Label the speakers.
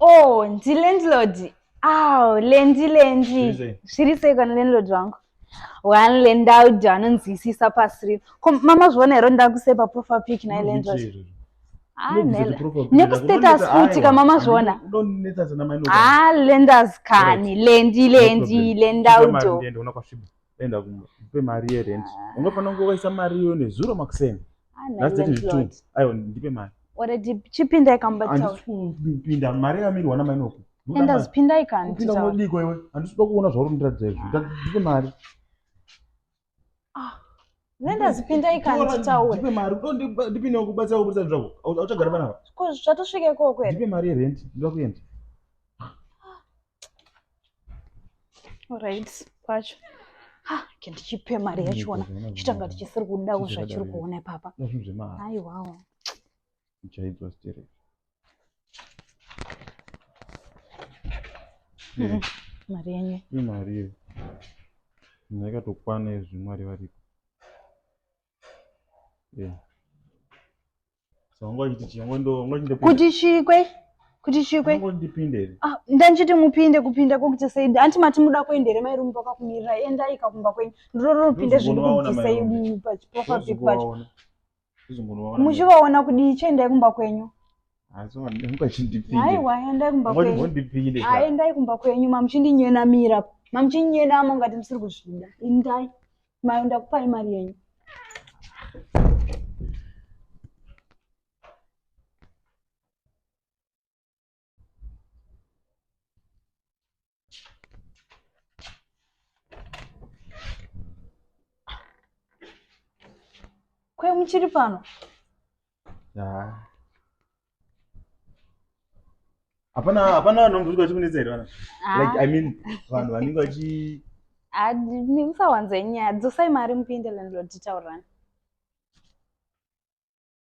Speaker 1: Oh, ndi landlord. Aw, lendi lendi. Zviri sei kana landlord wangu? One landlord anonzwisisa pasi rino. Ko mama zviona here ndakuse pa profile pic na landlord? Ah, nekustatus futi ka mama zviona ah, lenders kani lendi lendi lendaudo
Speaker 2: enda kumba ndipe mari yerent ungafanira kunge waisa mari iyoyo nezuro makuseni last date nditwo
Speaker 1: aiwa ndipe
Speaker 2: mari already chipinda
Speaker 1: ikambaandisipinda
Speaker 2: mari yamirwa namainoku enda zipinda
Speaker 1: ikandipinda unodiko iwe
Speaker 2: handisikuda kuona zvauri ndiratidza izvi ndipe mari ah.
Speaker 1: nendazipinda ikanditaure ndipe mari
Speaker 2: ndipindewo kubatsira kuburitsa zvako auchagara panapa ko zvatosvika
Speaker 1: ikoko here ndipe mari yerent ndoda kuenda right kwacho ha ke ndichipe mari yachona chitanga tichisiri kudawo zvachiri kuona ipapa aiwawo
Speaker 2: uchaidzwa sterek mm-hmm.
Speaker 1: mari yenyu imari iyo
Speaker 2: munhu yakatokwana izvi mwari varipo kuti chikwe
Speaker 1: kuti chikwe ah,
Speaker 2: ndanchiti mupinde
Speaker 1: kupinda kokuti saidi hanti mati muda kuenda here mai rumu pakakumirira endai kakumba kwenyu ndororo rupinde zvinhu kukuti saidi pachiprofapic pacho muchivaona kudii chiendai kumba kwenyu
Speaker 2: aiwa endai kumba
Speaker 1: kwenyu aendai kumba kwenyu mamuchindinyenamira mamuchinyenama ungati musiri kuzvida indai maenda kupai mari yenyu Kwe muchiri pano? Yeah.
Speaker 2: hapana hapana vanhu vanombosvika vachikunetsa here vana ah. like i mean vanhu vanenge vachi ah,
Speaker 1: musawanze nyaya dzosai mari mupinde landlord titaurani